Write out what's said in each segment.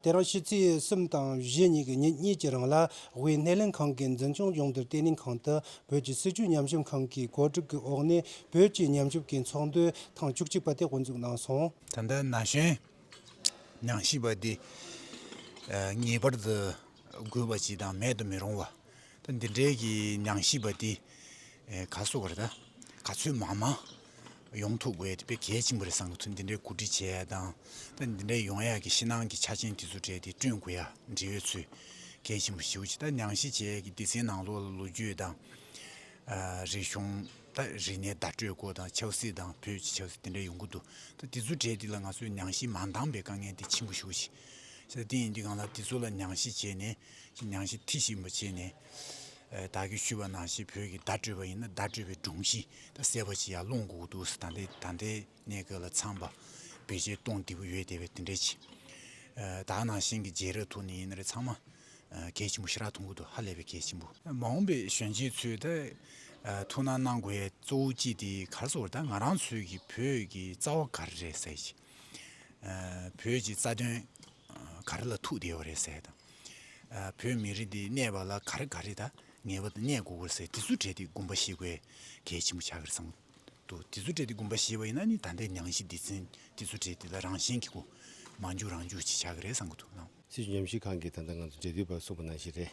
དེ་རིང་ཕྱི་ཚེས་གསུམ་དང་བཞི་གཉིས་ཀྱི་ཉིན་གཉིས་ཀྱི་རིང་ལ་དབུས་སྣེ་ལེན་ཁང་གི་འཛིན་སྐྱོང་ལྗོངས་བསྡུར་བརྟན་ལྷིང་ཁང་དུ་བོད་ཀྱི་སྲིད་ཇུས་ཉམས་ཞིབ་ཁང་གི་གོ་སྒྲིག་གི་འོག་ནས་བོད་ཀྱི་ཉམས་ཞིབ་ཀྱི་ཚོགས་འདུ་ཐེངས་བཅུ་གཅིག་པ་དེ་དབུ་འཛུགས་གནང་སོང། ད་ལྟ་ན་གཞོན་ཉམས་ཞིབ་པ་དེ་ངེས་པར་དུ་དགོས་པ་ཞིག་དང་མེད་དུ་མི་རུང་བ། ད་འདི་འདྲའི་གི་ཉང་གཞིས་པ་འདི་ག་བཟོ་བར་ད་ག་ཚོད་མང་མང་ཡོང་ཐུབ་དགོས་དཔེ་གལ་ཆེན་པོ་རེད་བསམ་གི་ཚུལ་འདི་འདྲའི་གོ་སྒྲིག་བྱས་ཡག་དང་ད་འདི་འདྲའི་ཡོང་ཡག་གི་ཕྱི་ནང་གི་ཆ་ཆེན་དེ་ཚོ་བྲལ་ཏེ་བསྐྲུན་དགོས་ཡག་འབྲེལ་ཡོད་ཚོས་གལ་ཆེན་པོ་ཞིའོ་ཅི་ད་ཉང་གཞིས་བྱས་གི་སྡེ་ཚན་ནང་ལོག་ལ་ལོ་རྒྱུས་དང་རིག་གཞུང་ད་རིག་གནས་བརྡ་སྤྲོད་སྐོར་དང་ཆབ་སྲིད་དང་བོད་ཀྱི་ཆབ་སྲིད་འདི་འདྲ་ཡོང་གི་འདུག་ད་འདི་ཚོ་བྲལ་ཏེ་ལ་ང་ཚོའི་ཉང་གཞིས་མ་འདང་པའི་དཀའ་ངལ་འདི་ཆེན་པོ་ཞིའོ་ཅི། ཞེས་པ་ཏིང་ངེ་འཛིན་གང་ལགས་དེ་ཚོ་ལ་མྱང་གཞི་བྱས་ནས་ཞེས་མྱང་གཞི་ཐིག་བཞིན་པ་བྱས་ནས། བདག་གིས་ཞུས་པ་ན་ཞེས་བོད་ཀྱི་བརྡ་སྤྲོད་པ་ཡིན་ན་བརྡ་སྤྲོད་པའི་སྒྲུང་གཞི་དང་གསལ་བ་ཅི་ཡང་ལོང་ལྐུགས་འདུག་ཟེར་ད་ལྟའི་ད་ལྟའི་གནས་སྐབས་ལ་ཚངས་པ་བེ་ཅའི་སྟོང་འདི་པོ་ཡོད་དེ་བས་དེ་འདྲའི་ཆེ། དག་སྣང་གཞན་གྱི་རྗེས་རབས་ཐོག་ནས་ཡིན་ན་རེ་ཚང་མ་གལ་ཆེན་པོ་ཤི་རག་ཐུང་ཁུ་དུ་ཧ་ལས་པའི་གལ་ཆེན་པོ། མ་འོངས་པའི་གཞོན་སྐྱེས་ཚོས་ད་ཐུགས་སྣང་གནང་དགོས་ཡས་གཙོ་བོ་ཅི་དེ་གར་སོ་ད་ང་རང་ཚོས་ཀྱི་བོད་ཀྱི་རྩ་བ་ག་རེ་རེད་ཟེར་གྱི་བོད་ཀྱི་རྩ་དོན་ག་རེ་ལ་ཐུག་བསྡད་པ་རེད་ཟེར་དང། བོད་མི་རིགས་འདི་གནས་པ་ལ་ག་རེ་ག་རེ་དང་ངེས་པ་དང་གནས་དགོས་པ་ཟེར་དེ་ཚོ་བྲལ་ཏེ་དགོངས་པ་བཞེས་དགོས་གལ་ཆེན་པོ་ཆགས་ཀྱི་རེད་བསམ་འདུག་དེ་ཚོ་བྲལ་ཏེ་དགོངས་པ་བཞེས་པ་ཡིན་ན་ནི་ད་ལྟའི་ཉང་གཞི་སྡེ་ཚན་དེ་ཚོ་བྲལ་ཏེ་ད་རང་གཞན་གྱི་སྒོ་མ་འཇུག་རང་འཇུག་ཅིག་ཆགས་ཀྱི་རེད་བསམ་གྱི་འདུག་ལགས། སྲིད་ཇུས་ཉམས་ཞིབ་ཁང་གི་ད་ལྟ་ང་ཚོ་འབྲེལ་མཐུད་པ་གསུམ་པོ་ནང་བཞིན་རེད།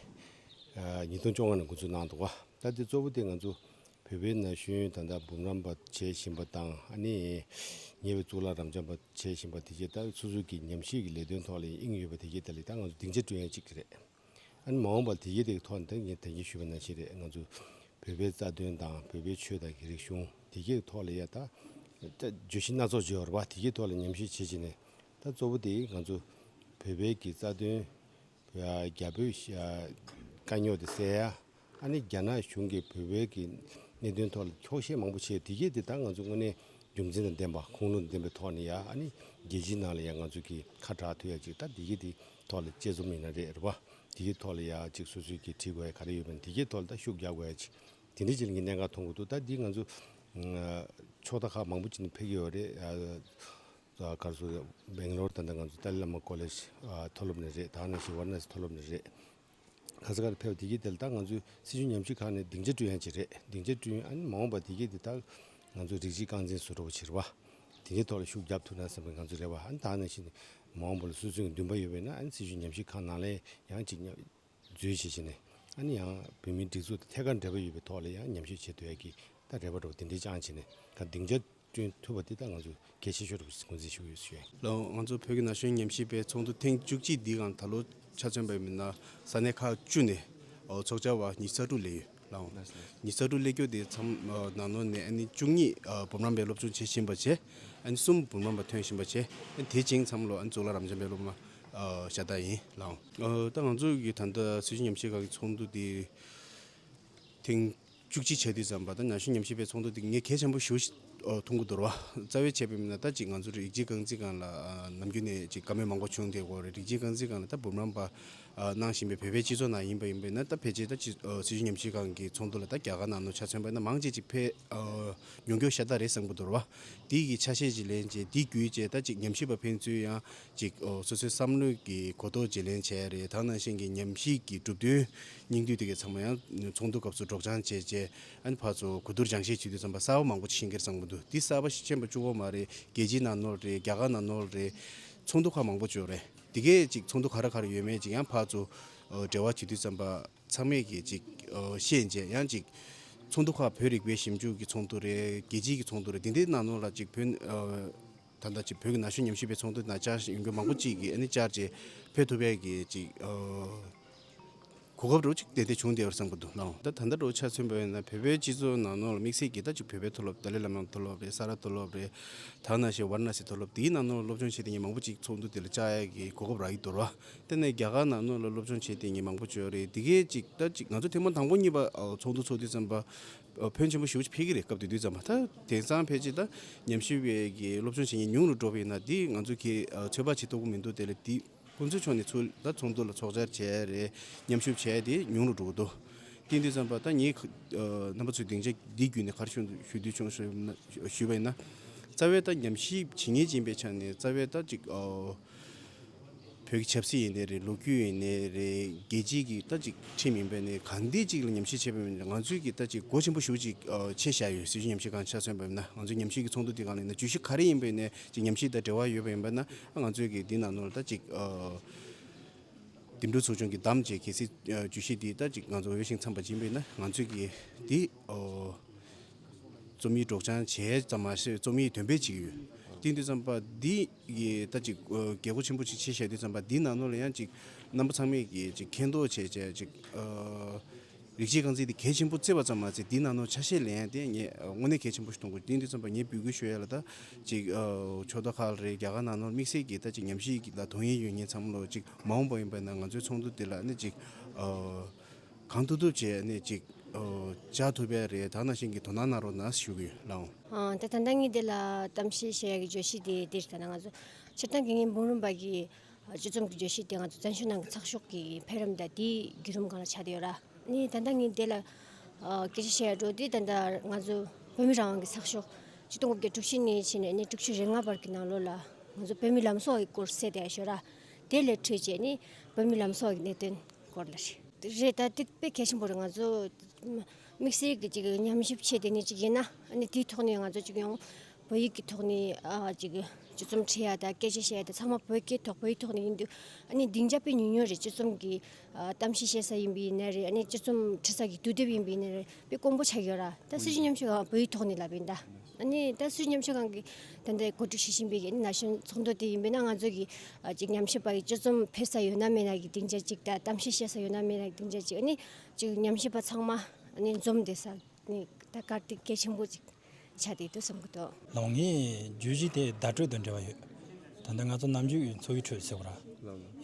ཉིས་སྟོང་བཅོ་ལྔ་ནང་འགོ་འཛུགས་གནང་འདུག་བ། ད་ལྟའི་གཙོ་བོ་དེ་ང་ཚོ་བོད་པའི་ན་གཞོན་ད་ལྟ་འབུམ་རམས་པ་བྱེད་བཞིན་པ་དང་ཨ་ནེ། ཉེ་བའི་གཙུག་ལག་རམས་བྱམས་པ་བྱེད་བཞིན་པ་དེ་བཅས་ལྟ་བུའི་ཚུར་གཟུགས་ཀྱི་ཉམས་བཞེས་ཀྱི་ལས་དོན་ཐོག་ལ་ཡིན་ཨིན་ཡོད་པ་དེ་བཅས་ད་ལི་ད་ང་ཚོ་སྡིངས་ཆ་སྤྲོད་ཡ་གཅིག་རེད། ཨ་ནེ་མ་འོངས་པར་དེ་བཅས་དེ་ཐོག་འདང་ངེས་ད་གིན་ཞུས་པ་ནང་བཞིན་རེད་ང་ཚོ་བོད་པའི་རྩ་དོན་དང་བོད་པའི་ཆོས་དང་གི་རིག་གཞུང་དེ་བཅས་ཀྱི་ཐོག་ལ་ཡ་ད་བརྗོད་གཞི་སྣ་ཚོགས་བརྗོད་བར་བ་དེ་བཅས་ཐོག་ལ་ཉམས་བཞེས་བྱེད་བཞིན་ནས་ད་གཙོ་བོ་དེ་ང་ཚོ་བོད་པའི་གི་རྩ་དོན་རྒྱ་བོད། དཀའ་རྙོག་དེ་སེལ་ཡ། ཨ་ནི་རྒྱ་ནག་གཞུང་གིས་བོད་བོད་ཀྱི་གནད་དོན་ཐོག་ལ་འཁྱོག་བཤད་མང་པོ་བྱས་དེ་གས་དེ་དག་ང་ཚོས་དངོས་གནས་རྒྱུ་མཚན་དང་ལྡན་པ་ཁུངས་ལུང་དང་ལྡན་པའི་ཐོག་ནས་ཡ་ཨ་ནི་རྒྱལ་སྤྱིའི་ནང་ལ་ཡ་ང་ཚོ་གིས་ཁ་གྲགས་ཐུབ་ཡ་ཅིག་ལྟ་དེ་གས་དེ་ཐོག་ལ་དཔྱད་རྩོམ་ཡིན་ན་རེད་རེད་བ། དེ་གས་ཐོག་ལ་ཡ་ཅིག་སོ་སོས་ཀྱིས་བྲིས་དགོས་ཡ་ག་རེ་ཡོད་པ་ནི་དེ་གས་ཐོག་ལ་ལྟ་ཤུགས་རྒྱག་དགོས་ཡ་ཅིག་དེ་འདྲའི་ཅིག་ལ་ངས་གནད་འགག་མཐོང་གི་འདུག་ལྟ་དེ་ང་ཚོ། ཕྱོགས་མཐའ་ཁག་མང་པོ་ཅིག་ནས་ཕེབས་ཀྱི་ཡོད་རེད། གར་སོ་ཡོད་སྦེང་ལོར་དང་འདྲ་ང་ཚོ་ཏཱ་ལི་ལཱ་མ་ཀོ་ལེས་མཐོ་སློབ་ནས་རེད་ད་ནི་སི་ཝར་ནཱ་སི་མཐོ་སློབ་ནས་རེད། ཁ་ས་ཁར་ཕེབས་དེ་གིས་དེ་ལ་ད་ང་ཚོའི་སྲིད་བྱུས་ཉམས་ཞིབ་ཁང་ནས་སྡིངས་ཆ་བསྐྲུན་ཡང་བྱས་རེད་སྡིངས་ཆ་བསྐྲུན་ཡང་མ་འོངས་པ་དེ་གིས་དེ་ད་ང་ཚོ་རིགས་གཅིག་རྐང་འཛིན་བཟོ་སྒྲོག་བྱེད་རེ་བ། དེ་འདྲའི་ཐོག་ལ་ཤུགས་རྒྱབ་ཐུབ་ན་བསམ་པའི་ང་ཚོ་རེ་བ་ད་ནས་བཞིན་མ་འོངས་པ་ལ་སུད་སུད་ཀྱི་འདུན་པ་ཡོད་པས་ན་སྲིད་བྱུས་ཉམས་ཞིབ་ཁང་ནང་ལ་ཡང་ཅིག་རྫུན་བྱེད་བྱེད་ནས་ཨ་ནི་ཡང་བོད་མིའི་སྒྲིག་འཛུགས་དང་ཐད་ཀར་འབྲེལ་བ་ཡོད་པའི་ཐོག་ལ་ཡང་ཉམས་ཞིབ་བྱེད་འདོད་ཡ་གི་ད་རེ་བ་འགྲོ་བ་དེ་འདྲའི་ཅང་བྱེད་ནས་ད་སྡིངས་ཆ་བསྐྲུན་ཐུབ་པ་དེ་ད་ང་ཚོ་གལ་ཆེ་ཤོས་རེད་བསྒོ་འཛིན་ཞུ་ཡོད་ཞེས། ལ་ང་ཚོ་བོད་ཀྱི་ན་གཞོན་ཉམས་ཞིབ་པའི་ཚོགས་འདུ་ཐེངས་བཅུ་གཅིག་འདིའི་ངང་ད་ལོ་ཆ་མཚོན་པའི་མི་སྣ་ས་གནས་ཁག་བཅུ་ནས་ཚོགས་བཅར་བ་ཉིས་ས་དྲུག་ལས་ཡོད། ལའང། ཉིས་བརྒྱ་དྲུག་སླེ་སྐྱོ་དེའི་མཚམས་ནང་ནོར་ནས་བཅུ་གཉིས་འབུམ་རམས་པའི་སློབ་ཆུང་བྱེད་བཞིན་པ་བྱས། གསུམ་འབུམ་རམས་པ་ཐོན་བཞིན་པ་བྱས། དེ་བྱིངས་མཚམས་ལོ་གཙུག་ལག་རམས་བྱམས་པའི་སློབ་མ་ཤ་སྟག་ཡིན། ལའང། ད་ང་ཚོ་གི་ད་ལྟ་སྲིད་ཞུ་ཉམས་ཞིབ་ཁང་གི་ཚོགས་འདུ་དེ་ཐེངས་བཅུ་གཅིག་བྱ་དུས་ཙམ་པ་ད་ན་ཞུ་ཉམས་ཞིབ་པའི་ཚོགས་འདུ་དེ་ངས་གལ་ཆེན་པོ་ཞུ་ཐུང་གི་འདུར་བ། རྩ་བའི་ཆད་པའི་མིན་ན་ད་ཅིག་ང་ཚོ་རིགས་གཅིག་རྐང་རྩིས་ཁང་ལ་ནམ་རྒྱུན་ནས་ཅིག་དཀའ་མོལ་མང་པོ་བྱུང་དེའི་སྐོར་རེད་རིགས་གཅིག་རྐང་རྩིས་ཁང་ལ་ད་འབུམ་རམས་པ་གནང་བཞིན་པའི་བོད་པའི་སྤྱི་ཚོགས་ནང་ཡིན་པ་ཡིན་པས་ན་ད་ཕལ་ཆེར་ད་སྲིད་ཇུས་ཉམས་ཞིབ་ཁང་གི་ཚོགས་འདུ་ལ་ད་རྒྱ་གར་ནང་ནོར་འཆར་མཚོན་པ་ན་མང་ཆེ་གཅིག་ཕལ། མྱོང་འགྱོགས་ཤ་སྟག་རེད་བསམ་གྱི་འདུར་བ། དེ་ཡི་གི་ཆ་ཤས་ཅིག་ལེན་རྗེས་དེ་བརྒྱུད་རྗེས་ད་ཅིག་ཉམས་ཞིབ་པ་ཕན་ཚུན་ཡང་ཅིག་སོ་སོའི་བསམ་བློའི་གི་གོ་རྟོགས་བརྗེ་ལེན་བྱས་རེད་ད་ནང་བཞིན་གི་ཉམས་ཞིག་གི་གྲུབ་དོན་སྙིང་བསྡུས་དེ་གའི་ཚང་མ་ཡང་ཚོགས་འདུ་སྐབས་སུ་སྒྲོགས་སྦྱང་བྱས་རྗེས་ཨན་བྷ་ཚོ་གོ་བསྡུར་སྦྱང་བཤད་བྱེད་དུས་ཚང་པ་གསར་བ་མང་པོ་ཅིག་ཤིང་ཁེར་བསམ་གྱི་འདུག་འདི་གསར་བ་ཤེས་མ་བཅུག་གོ་མ་རེད་རྒྱལ་སྤྱིའི་ནང་ནོར་རེད་རྒྱ་གར་ནང་ནོར་རེད་ཚོགས་འདུ་ཁག་མང་པོ་བྱོས་རེད། འདི་གས་ཅིག་ཚོགས་འདུ་ག་རེ་ག་རེ་ཡོད་མེད་ཅིག་ཡང་ཕར་ཚུར་འབྲེལ་བ་བྱེད་དུས་ཙམ་པ་ཚང་མས་ཀྱིས་ཅིག་ཤེས་མཇལ་ཡང་ཅིག། ཚོགས་འདུ་ཁག་བོད་རིག་པའི་ཞིབ་འཇུག་གི་ཚོགས་འདུ་རེད་རྒྱལ་སྤྱིའི་གི་ཚོགས་འདུ་རེད་འདི་འདི་ནང་ནོར་ལ་ཅིག་བོད། ད་ལྟ་ཅིག་བོད་ཀྱི་ན་གཞོན་ཉམས་ཞིབ་པའི་ཚོགས་འདུ་ན་བཅར་ཡོང་རྒྱུ་མང་པོ་ཅིག་གིས་ཨ་ནི་བཅར་རྗེས་ཕེབས་ཐུབ་པས་ཀྱིས་ཅིག། གོ་སྐབས་རོ་གཅིག་དེ་འདི་བྱུང་བསྡད་པར་བསམ་དགོས་འདུག་སྣང། ད་ད་ལྟ་རོ་ཆ་ཚུན་པ་ཡིན་ན་བོད་པའི་སྤྱི་ཚོགས་ནང་ནོར་ལ་དམིགས་བསལ་གྱིས་ད་ཅིག་བོད་པའི་མཐོ་སློབ་ཏཱ་ལའི་བླ་མའི་མཐོ་སློབ་རེད་ས་རཱ་མཐོ་སློབ་རེད། དག་ན་ཞེས་བར་ན་སི་མཐོ་སློབ་དེའི་ནང་ནོར་ལ་སློབ་སྦྱོང་བྱེད་དེ་ཉིན་མང་པོ་གཅིག་ཚོགས་འདུ་དེ་ལ་བཅར་ཡག་གི་གོ་སྐབས་རག་ཡི་དོར་བ། དེ་ནས་རྒྱ་གར་ནང་ནོར་ལ་སློབ་སྦྱོང་བྱེད་དེ་ཉིན་མང་པོ་བྱོས་རེད་དེ་སྐད་ཅིག་ད་ཅིག་ང་ཚོ་ཐེངས་མང་དང་པོ་གཉིས་པ་ཚོགས་འདུ་ཚོགས་དུས་ཙམ་པ། ཕོན་ཆེན་པོ་ཞུ་ཕེལ་གི་རེད་སྐབས་དེ་དུས་ཙམ་པ་ད་དེང་སང་ཕལ་ཆེར་ད་ཉམས་ཞིབ་བས་གི་སློབ་སྦྱོང་བྱེད་ཉིན་ཉུང་རུ་འགྲོ་བས་ན་འདི་ང་ཚོ་གིས་ཚོད་དཔག་བྱེད་ཐུབ་ཀི་མི་འདུག་དེ་ལ་དེ། ཁོ་ཚོའི་ཕྱོགས་ནས་ཚུར་ལ་ཚོགས་འདུ་ལ་ཚོགས་བཅར་བྱས་རེས་མཉམ་ཞུགས་བྱས་ཏེ་ཉུང་རུ་འགྲོ་གི་འདུག་ཏིང་ཏིང་བསམ་པ་ད་ངས་རྣམ་པ་ཚོའི་སྡིངས་ཆ་འདི་བརྒྱུད་ནས་གར་ཞུ་འདོད་བྱུང་ཞུས་པ་ཡིན་ན། རྩ་བའི་ད་ཉམས་ཞིབ་བྱེད་ངེས་ཅན་པའི་ཆ་ནས་རྩ་བའི་ད་ཅིག་བོད་ཀྱི་ཆབ་སྲིད་ཡིན་ནི་རེད་ལོ་རྒྱུས་ཡིན་ནི་རེད་རྒྱལ་སྤྱིའི་གི་ད་ཅིག་ཁྲིམས་ཡིན་པ་ནི་གང་འདི་ཅིག་ལ་ཉམས་ཞིབ་བྱེད་པ་མིན་ནི་ང་ཚོའི་གི་ད་ཅིག་སྒོ་ཆེན་པོ་ཞུགས་ཅིག་ཆེ་བཞག་ཡོད་སྲིད་ཇུས་ཉམས་ཞིབ་གང་ཆ་སོན་པ་མིན་ན་ང་ཚོའི་ཉམས་ཞིབ་ཀྱི་ཚོགས་འདུ་འདི་གང་ལ་ཡིན་ན་ཇུས་གཞི་ག་རེ་ཡིན་པའི་ནས་ཅིག་ཉམས་ཞིབ་ད་འབྲེལ་བ་ཡོད་པ་ཡིན་པ་ན་ང་ཚོས་ཀྱི་འདི་ན་ནོར་ད་ཅིག་འདེམས་སྒྲུག་ཚོགས་ཆུང་གི་གདམ་བྱའི་གལ་སྲིད་ཇུས་གཞི་འདི་ད་ཅིག་ང་ཚོ་འོས་ཤིང་འཚམས་པ་སྦྱིན་པས་ན་ང་ཚོས་ཀྱི་འདི་རྩོམ་ཡིག་སྒྲོག་སྦྱང་བྱས་ཙམ་མ་ཟད་རྩོམ་ཡིག་འདོན་སྤེལ་བྱེད་ཀྱི་ཡོད། དེ་འདི་བརྩམས་པ་འདི་ཡི་ད་ཅིག་རྒྱལ་སྒོ་ཆེན་པོ་ཅིག་ཕྱེ་བཞག་འདི་བརྩམས་པ་འདི་ན་ནོར་ལ་ཡང་ཅིག་རྣམ་པ་ཚང་མས་ཀྱི་ཅིག་མཁྱེན་རྟོགས་བྱས་བྱས་ཅིག། རིག་བྱེད་རྐང་འཛིན་དེ་གལ་ཆེན་པོ་བརྩི་བ་ཙམ་མ་ཟད་དེའི་ནང་ནོར་ཆ་ཤས་ལེན་ཡ་དེ་ངས་དངོས་གནས་གལ་ཆེན་པོ་ཞིག་མཐོང་དགོས་གཏན་འདི་ཙམ་པ་ངས་འབུལ་དགོས་ཤོས་ཡ་ལ་ད་ཅིག་ཕྱོགས་མཐའ་ཁག་ལ་རེད་རྒྱ་གར་ནང་ནོར་དམིགས་བསལ་གྱི་ད་ཅིག་ཉམས་ཞིག་ལ་དོན་ཡིན་ཡོད་ངས་འཚམས་ལོ་ཅིག་མ་འོངས་པ་ཡིན་པ་ན་ང་ཚོའི་ཚོགས་འདུ་འདི་ལ་ནི་ཅིག་གང་ཐུབ་ཐུབ་བྱས་ནས་ཅིག་བྱ་ཐུབ་པའི་རེད་ད་ནང་བཞིན་གྱི་དོ་སྣང་གནང་རོགས་གནང་ཞུ་གི་ལགས། ད་ད་ལྟ་ངས་འདི་ལ་གཏམ་བཤད་བྱེད་ཡ་གི་བརྗོད་གཞི་དེ་འདི་ལྟར་ན་ང་ཚོ་སྤྱིར་བཏང་གི་ངའི་འབུམ་རམས་པ་གི་སྤྱི་རྩོམ་གྱི་བརྗོད་གཞི་དེའང་བཙན་བྱོལ་ནང་གི་ཚགས་ཤོག་གི་འཕེལ་རིམ་དང་དེའི་བརྒྱུད་རིམ་གང་ལ་ཆགས་བསྡད་ཡོད་ར། ནས་ད་ལྟ་ངས་དེ་ལ་སྐད་ཆ་བཤད་ཡག་འགྲོ་དུས་ད་ལྟ་ང་ཚོ་བོད་མི་རང་དབང་གི་ཚགས་ཤོག་སྤྱི་སྟོང་དགུ་བརྒྱ་དྲུག་ཅུ་ནས་ཕྱིན་ནས་ནས་དྲུག་ཅུ་རེ་ལྔ་བར་གྱི་ནང་ལོ་ལ་ང་ཚོ་བོད་མི་ལམ་སྲོལ་གྱི་སྐོར་གསལ་བསྡད་ཡག་ཤོད་ར། དེ་ལས་འཕྲོས་བཅས་ནི་བོད་མི་ལམ་སྲོལ་གྱི་གནད་དོན་སྐོར་ལ་རེད། རེད་ད་དེ་དཔེ་གལ་ཆེན་པོ་རེད་ང་ཚོ་དམིགས་བསལ་གྱི་ཅིག་ཉམས་ཞིབ་བྱེད་བསྡད་ནི་ཅིག་ཡིན་ན་ནི་དེའི་ཐོག་ནས་ང་ཚོ་ཅིག་ཡོང། བོད་ཡིག་གི་ཐོག་ནས་ཅིག་སྤྱི་རྩོམ་འཁྲིད་ཡ་དང་སྐད་ཆ་བཤད་ཡ་དེ་ཚང་མ་བོད་སྐད་ཐོག་བོད་ཡིག་ཐོག་ནས་ཡིན་འདུག་ཨ་ནི་སྡིངས་ཆ་པས་ཉུང་ཉུང་རེ་སྤྱི་རྩོམ་གྱི་གཏམ་བཤད་བཤད་ས་ཡིན་པའི་ནད་རེད་ཨ་ནི་སྤྱི་རྩོམ་འཁྲིད་ས་གི་དུས་དེབ་ཡིན་པའི་ནད་རེད་དཔེ་དཀོན་པོ་ཆགས་ཡོད་ར་ད་སྲིད་ཇུས་ཉམས་ཞིབ་ཁང་བོད་ཡིག་ཐོག་ནས་ལབ་པའི་ཟླ་ཨ་ནི་ད་སྲིད་ཇུས་ཉམས་ཞིབ་ཁང་གི་ད་ལྟའི་གོ་སྒྲིག་བྱེད་བཞིན་པའི་ན་གཞོན་ཚོགས་འདུ་དེ་ཡིན་པས་ན་ང་ཚོ་གི་ཅིག་ཉམས་ཞིབ་པ་ཡི་སྤྱི་རྩོམ་ཕེབས་ས་ཡོད་ན་མེད་ན་གི་སྡིངས་ཆ་ཅིག་ད་གཏམ་བཤད་བཤད་ས་ཡོད་ན་མེད་ན་གི་སྡིངས་ཆ་ཅིག་ཨ་ནི་ཅིག་ཉམས་ཞིབ་པ་ཚང་མ་ཨ་ནི་འཛོམས་བསྡད་ས་ནི་ད་གར་སྟེགས་གལ་ཆེན་པོ་ཅིག། བྱ་འདི་ལྟོས་བསམ་གྱི་འདུག། ལོང་ངས་རྒྱུད་བཞི་དེ་བརྡ་སྤྲོད་དང་འབྲེལ་བ་ཡོད། ད་ལྟ་ང་ཚོ་ནམ་རྒྱུན་འཚོ་བའི་ཁྲོད་ཟེར་བ་ར།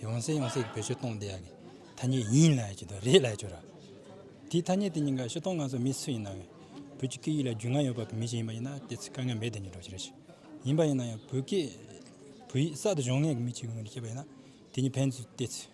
ཡོང་སའི་ཡོང་སའི་གི་བོད་ཆོས་སྟོང་བསྡད་ཡ་གི་ཐ་སྙད་ཡིན་ལ་ཡ་གྱི་དང་རེད་ལ་ཡ་གྱོ་ར། དེའི་ཐ་སྙད་དེ་གཉིས་ཀ་ཤི་སྟོང་ང་ཚོ་མི་སུ་ཡིན་ན་ཡང་བོད་ཀྱི་སྐད་ཡིག་ལ་རྒྱུས་མངའ་ཡོད་པ་གི་མི་ཞིག་ཡིན་པ་ཡིན་ན་དེ་ཚོའི་དཀའ་ངལ་མེད་བསྡད་མྱི་འགྲོ་བྱེད་ར་ཞིག་ཡིན་པ་ཡིན་ན་ཡང་བོད་སྐད་བོད་ཡིག་གསར་དུ་སྦྱོང་མཁན་གྱི་མི་ཅིག་ཡོང་ནི་ཤེས་པ་ཡིན་ན་དེ་གཉིས་ཕན་ཚུན་བལྟས་ཚུལ།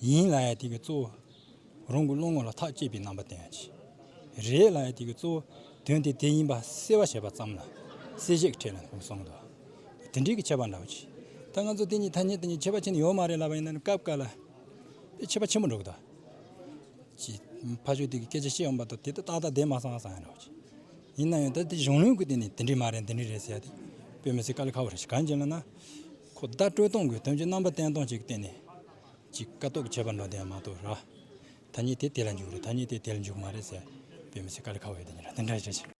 ཡིན་ལ་ཡང་དེ་གའི་གཙོ་བོ་རང་གི་བློ་ངོ་ལ་ཐག་བཅད་པའི་རྣམ་པ་དེའང་ཅི་རེད་ལ་ཡང་དེ་གའི་གཙོ་བོ་དོན་དེ་དེ་ཡིན་པ་སེལ་བར་བྱེད་པ་ཙམ་ལ་སེལ་བྱེད་ཀྱི་ཁྲིད་ལ་ངོས་བཟུང་དུ་དེ་འདྲིས་ཀྱི་ཁྱད་པར་འདྲ་བོ་ཅི། ད་ང་ཚོ་དེ་གཉིས་ཐ་སྙད་དེ་གཉིས་ཁྱད་པར་ཅི་ནས་ཡོད་མ་རེད་ལབ་པ་ཡིན་ན་ནི་སྐབས་འགའ་ལ་དེ་ཁྱད་པར་ཆེན་པོ་འགྲོ་གི་འདུག་ཅི། ཕ་ཆོས་དེ་གའི་སྐད་ཆ་བཤད་འོང་པ་དང་དེ་ལྟ་སྟག་སྟག་བསྡད་མ་སོང་ང་བསམ་ཡོད་འདྲ་བོ་ཅི། ཡིན་ན་ཡང་ད་དེ་གཞུང་ལུགས་ཀྱི་སྟེང་ནས་དེ་འདྲིས་མ་རེད་འདི་འདྲིས་རེད་ཟེར་ཡ་དེ་དཔེ་མི་སྲིད་དཀའ་ལས་ཁག་པོ་རེད་གང་ཅི་ལ་ན། ཁོ་བརྡ་སྤྲོད་གཏོང་དགོས་དོན་གྱི་རྣམ་པ་བསྟན་གཏོང་གཅིག་གཏན་ནས་གཅིག་དཀའ་སྟོབས་ཁྱད་པར་འགྲོ་བསྡད་མ་གཏོགས་ར། ད་ཉིད་དེ་དེ་ལ་འཇུག་རེད་ད་ཉིད་དེ་དེ་ལ་འཇུག་མ་རེད་ཟེར་དཔེ་མི་སྲིད་དཀའ་ལས་ཁ་བའི་དེ་ཉིད་ར་དེ་འདྲ་བྱེད།